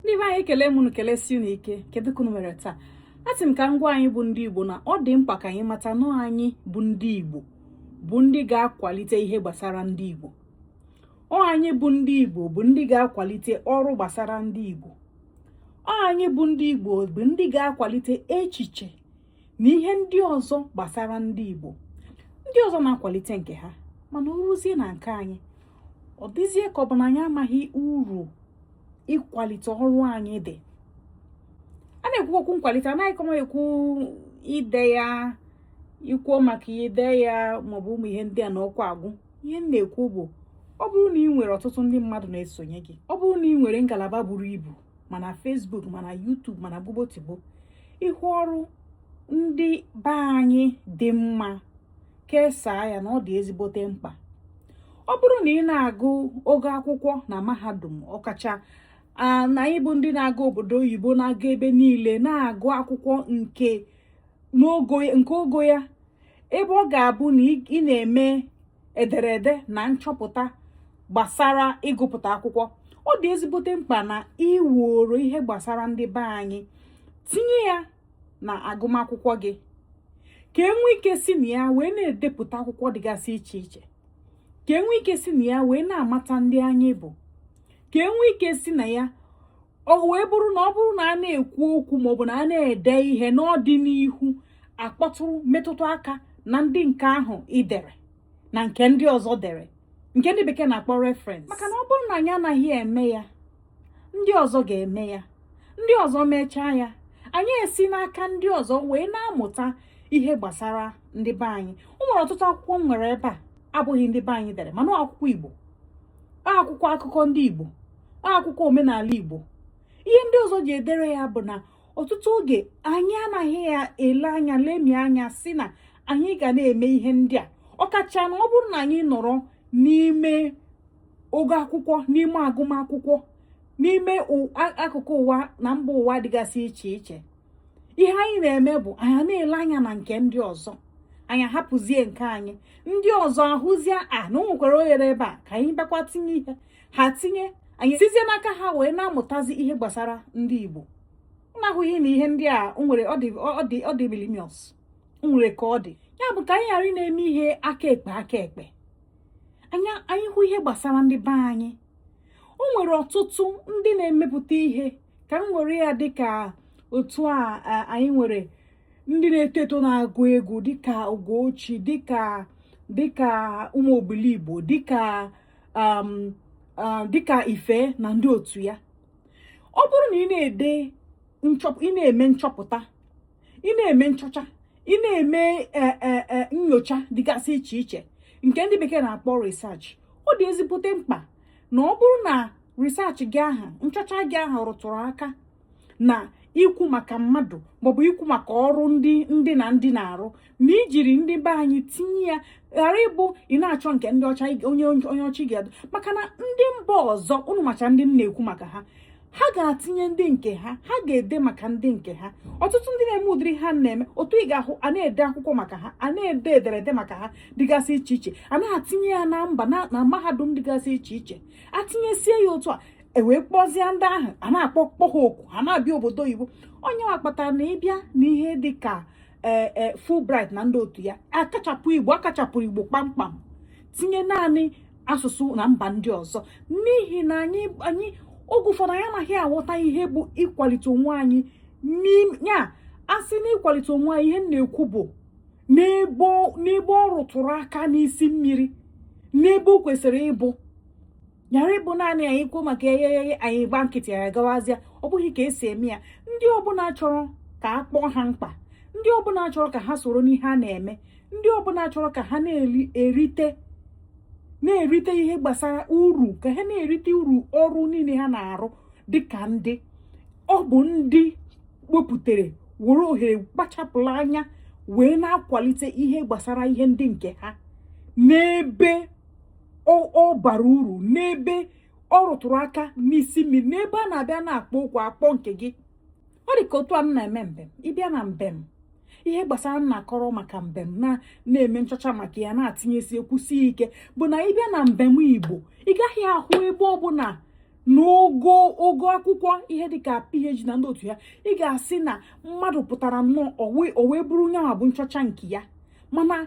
ndị be anyị ekele m unu kelesi unu ike kedu ka unu mere taa asị m ka m gwa anyị bụ ndị igbo na ọ dị mkpa ka anyị mata na anyị bụ ndị igbo bụ ndị ga-akwalite ihe gbasara ndị igbo ọ anyị bụ ndị igbo bụ ndị ga-akwalite ọrụ gbasara ndị igbo ọ anyị bụ ndị igbo bụ ndị ga-akwalite echiche na ihe ndị ọzọ gbasara ndị Igbo ndị ọzọ na-akwalite nke ha mana o ruzie na nke anyị ọ dịzie ka ọ bụ na anyị amaghị uru ịkwalite ọrụ anyị dị a na-ekwu okwu nkwalite anaghịkwa m ekwu ide ya ikwuo maka ide ya maọbụ ụmụ ihe ndị a na ọkwa agwụ ihe m na-ekwu bụ ọ bụrụ na ị nwere ọtụtụ ndị mmadụ na-esonye gị ọ bụrụ na ị nwere ngalaba buru ibu ma na Facebook ma na YouTube ma na gbobotigbo ị hụ ọrụ ndị be anyị dị mma kesaa ya na ọ dị ezigbote mkpa ọ bụrụ na ị na-agụ ogo akwụkwọ na mahadum ọkacha na anyị bụ ndị na-aga obodo oyibo na-aga ebe niile na-agụ akwụkwọ nke ogo ya ebe ọ ga-abụ na ị na-eme ederede na nchọpụta gbasara ịgụpụta akwụkwọ ọ dị ezigbote mkpa na i woro ihe gbasara ndị be anyị tinye ya n'agụmakwụkwọ gị ka e nwee ike si na ya wee na-edepụta akwụkwọ dịgasị iche iche ka e nwee ike si na ya wee na-amata ndị anyị bụ ka e nwee ike si na ya ọ wee bụrụ na ọ bụrụ na a na-ekwu okwu maọbụ na a na-ede ihe n'ọdịnihu a kpọtụrụ metụtụ aka na ndị nke ahụ i dere na nke ndị ọzọ dere nke ndị bekee na-akpọ reference maka na ọ bụrụ na anyị anaghị eme ya ndị ọzọ ga-eme ya ndị ọzọ mechaa ya anyị esi n'aka ndị ọzọ wee na-amụta ihe gbasara ndị be anyị o nwere ọtụtụ akwụkwọ m nwere ebe a abụghị ndị be anyị dere mana ọ akwụkwọ Igbo ọ akwụkwọ akụkọ ndị Igbo ọ akwụkwọ omenala Igbo ihe ndị ọzọ ji edere ya bụ na ọtụtụ oge anyị anaghị ya ele anya lemie anya sị na anyị ga na-eme ihe ndị a ọkacha na ọ bụrụ na anyị nọrọ n'ime ogo akwụkwọ n'ime agụmakwụkwọ n'ime akụkụ ụwa na mba ụwa dịgasị iche iche ihe anyị na-eme bụ anyị na-ele anya na nke ndị ọzọ anyị ahapụzie nke anyị ndị ọzọ ahụzie a na o nwekwara oghere ebe a ka anyị bịakwa tinye ihe ha tinye anyị sizie n'aka ha wee na-amụtazi ihe gbasara ndị Igbo na-ahụghị na ihe ndị a nwere ọ dị imilimious nwere ka ọ dị ya bụ ka anyị ghara ịna-eme ihe aka ekpe aka ekpe anyị hụ ihe gbasara ndị be anyị o nwere ọtụtụ ndị na-emepụta ihe ka m were ya dịka otu anyị nwere ndị na-eto eto na-agụ egwu dịka Ugochi dịka ụmụ Obiligbo dịka um, um, dịka ife na ndị otu ya ọ bụrụ na ị na-ede ị na-eme nchọpụta ị na-eme nchọcha ị na-eme e, e, e, nyocha dịgasị iche iche nke ndị bekee na-akpọ research ọ dị ezigbote mkpa na ọ bụrụ na research gị ahụ nchọcha gị ahụ rụtụrụ aka na ikwu maka mmadụ maọbụ ikwu maka ọrụ ndị ndị na ndị na-arụ na ijiri ndị be anyị tinye ya ghara ịbụ ị na-achọ nke ndị ọcha onye onye ọcha ga-adụ maka na ndị mba ọzọ ụnụ macha ndị m na-ekwu maka ha ha ga-atinye ndị nke ha ha ga-ede maka ndị nke ha ọtụtụ ndị na-eme ụdịrị ha na-eme otu ị ga-ahụ a na-ede akwụkwọ maka ha a na-ede ederede maka ha dịgasị iche iche a na-atinye ya na mba na mahadum dịgasị iche iche atinyesie ya otu a e wee kpọzie ndị ahụ a na-akpọ kpọ ha oku ha na-abịa obodo oyibo ọ nyanwa kpatara na ịbịa n'ihe dị ka ee e, Fulbright na ndị otu ya akachapụ igbo akachapụrụ igbo kpamkpam tinye naanị asụsụ na mba ndị ọzọ n'ihi na anyị anyị oge ụfọdụ anyị anaghị aghọta ihe bụ ịkwalite onwe anyị ya asị na ịkwalite onwe anyị ihe m na-ekwu bụ n'ebe ọ rụtụrụ aka n'isi mmiri n'ebe o kwesịrị ịbụ ghara ịbụ naanị anyị kwuo maka egheghe anyị gba nkịtị ya gawazịa ọ bụghị ka esi eme ya ndị ọbụla chọrọ ka a kpọọ ha mkpa ndị ọbụla chọrọ ka ha soro n'ihe a na-eme ndị ọbụla chọrọ ka ha na-erite na-erite ihe gbasara uru ka ha na-erite uru ọrụ niile ha na-arụ dịka ndị ọ bụ ndị wepụtara were ohere kpachapụrụ anya wee na-akwalite ihe gbasara ihe ndị nke ha n'ebe ọ bara uru n'ebe ọ rụtụrụ aka n'isi mmiri n'ebe a na-abịa na-akpọ oku akpọ nke gị ọ dị ka otu a m na-eme mbem ịbịa na mbem ihe gbasara m na-akọrọ maka mbem na na-eme nchọcha maka ya na-atinyesi ekwusi ike bụ na ịbịa na mbem igbo ị gaghị ahụ ebe ọbụla n'ogo ogo akwụkwọ ihe dịka PhD na ndị otu ya ị ga-asị na mmadụ pụtara nnọọ o wee bụrụ nyanwa bụ nchọcha nke ya mana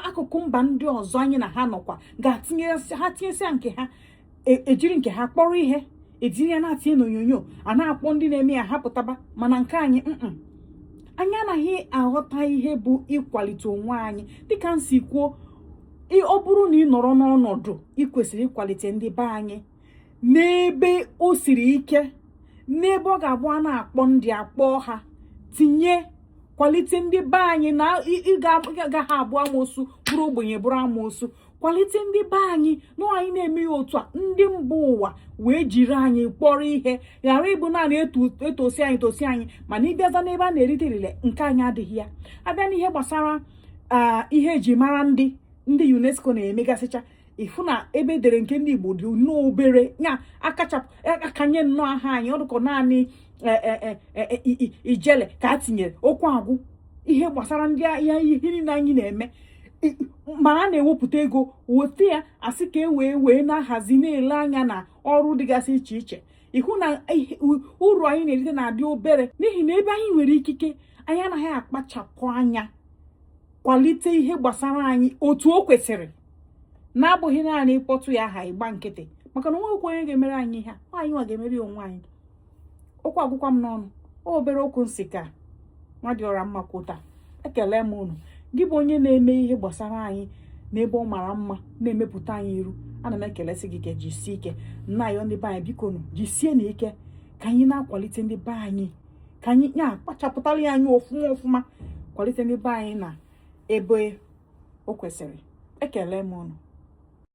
akụkụ mba ndị ọzọ anyị na ha nọkwa ga-atinyesi ha tinyesịa nke ha e, ejiri nke ha kpọrọ ihe etinye ya na-atinye n'onyonyo a na-akpọ ndị na-eme ya ha pụtaba mana nke anyị anyị anaghị aghọta ihe bụ ịkwalite onwe anyị dịka m si kwuo ọ bụrụ na ị nọrọ n'ọnọdụ ị kwesịrị ịkwalite ndị be anyị n'ebe o siri ike n'ebe ọ ga-abụ a na-akpọ ndị akpọ ha tinye kwalite ndị be anyị na ị gaghị abụ amoosu bụrụ ogbenye bụrụ amoosu kwalite ndị be anyị na anyị na-eme ya otu a ndị mba ụwa wee jiri anyị kpọrọ ihe ghara ịbụ naanị etosi anyị tosi anyị mana ịbịaza n'ebe a na-erite elele nke anyị adịghị ya abịa n'ihe gbasara ihe eji mara ndị ndị UNESCO na-emegasịcha ị fụ na ebe e dere nke ndị Igbo dị nnọọ obere ya akachapụ e, a kanye nnọọ aha anyị ọ dị ka naanị e, e, ijele ka a tinyere okwu agwụ ihe gbasara ndị ahịa ihe niile anyị na-eme ma a na-ewepụta ego weta ya a sị ka e wee wee na-ahazi na-ele anya na ọrụ dịgasị iche iche ị hụ na uru anyị na-erite na-adị obere n'ihi na ebe anyị nwere ikike anyị anaghị akpachapụ anya kwalite ihe gbasara anyị otu o kwesịrị na-abụghị naanị ịkpọtụ ya aha ịgba nkịtị maka na o nweghị onye ga-emere anyị ihe anyị nwa ga-emeri onwe anyị okwu agwụkwa m n'ọnụ obere okwu m sị ka nwa dị ọra mma kwuta ekele m unu gị bụ onye na-eme ihe gbasara anyị n'ebe ọ mara mma na-emepụta anyị iru ana m ekele sị gị ka jisie ike na ya ndị be anyị biko nụ jisienụ ike ka anyị na-akwalite ndị be anyị ka anyị ya kpachapụtara ya anya ọfụma ọfụma kwalite ndị be anyị na ebe o kwesịrị ekele m unu